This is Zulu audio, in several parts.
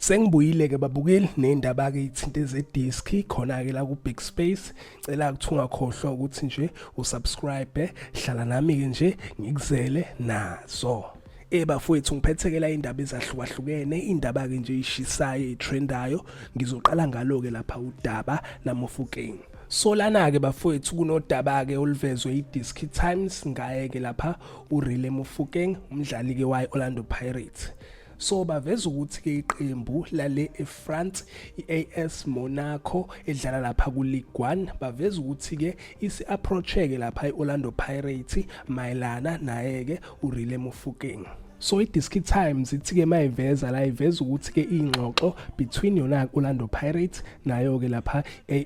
Sengibuyile-ke babukeli ney'ndaba-ke iy'thinte zediski khona-ke la ku-big space cela ukuthi ungakhohlwa ukuthi nje usubscribe hlala nami-ke nje ngikuzele nazo Eh bafowethu ngiphethekela indaba ezahlukahlukene indaba ke nje ishisayo itrendayo ngizoqala ngalo ke lapha udaba namofukeng Solana ke bafowethu kunodaba ke oluvezwe iDisk Times ngaye ke lapha uRile Mofokeng umdlali ke waye Orlando Pirates so baveza ukuthi ke iqembu lale eFrance iAS Monaco edlala lapha kuLigue 1 baveza ukuthi ke isi approacheke lapha iOrlando Pirates mayelana naye ke uRile Mofokeng so i-diski times ithi-ke uma iveza la iveza ukuthi-ke iy'ngxoxo between yona orlando pirates nayo-ke lapha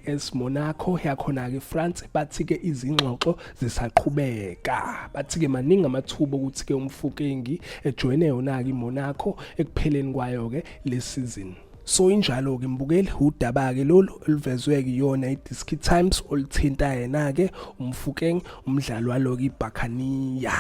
as monaco yakhona-ke france bathi-ke izingxoxo zisaqhubeka bathi-ke maningi amathuba okuthi-ke umfukengi ejoyine yona-ke imonaco ekupheleni kwayo-ke le sizini so injalo ke mbukeli udaba ke lolu oluvezwe kuyona iDiski Times olithinta yena ke umfukeng umdlalo walo ke iBhakaniya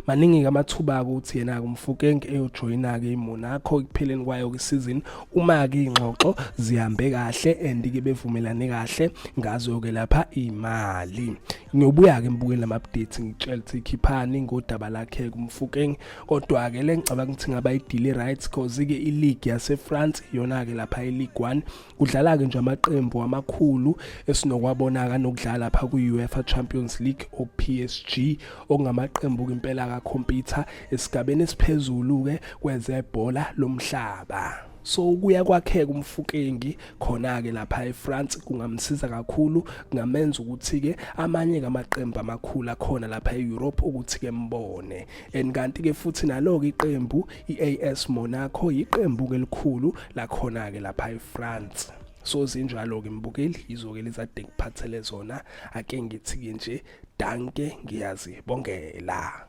maningi-ke amathuba-ke ukuthi yena-ke umfukeng eyojoyina-ke imona akho ekupheleni kwayo kwisizini uma-ke iy'ngxoxo zihambe kahle and-ke bevumelane kahle ngazo-ke lapha imali ngiyobuya-ke ngibukele lama-update ngitshela ukuthi ikhiphani ngodaba lakhe kumfukeng kodwa-ke le ngicabanga ukuthi ngaba idili right cause-ke iligi yasefrance iyona-ke lapha ileague one kudlala-ke nje amaqembu amakhulu esinokwabona-ka nokudlala lapha kwi-uefa champions league o-psg okungamaqembu-ke impela kakhompyutha esigabeni esiphezulu-ke kwezebhola lomhlaba so kuya kwakheka umfukengi khona-ke lapha efrance kungamsiza kakhulu kungamenza ukuthi-ke amanye-ke amaqembu amakhulu akhona lapha e-europe ukuthi-ke mbone and kanti-ke futhi nalo-ke iqembu I-AS Monaco yiqembu elikhulu lakhona ke lapha eFrance so zinjalo ke mbukeli yizoke lizade ngiphathele zona ake ngithi ke nje danke ngiyazibongela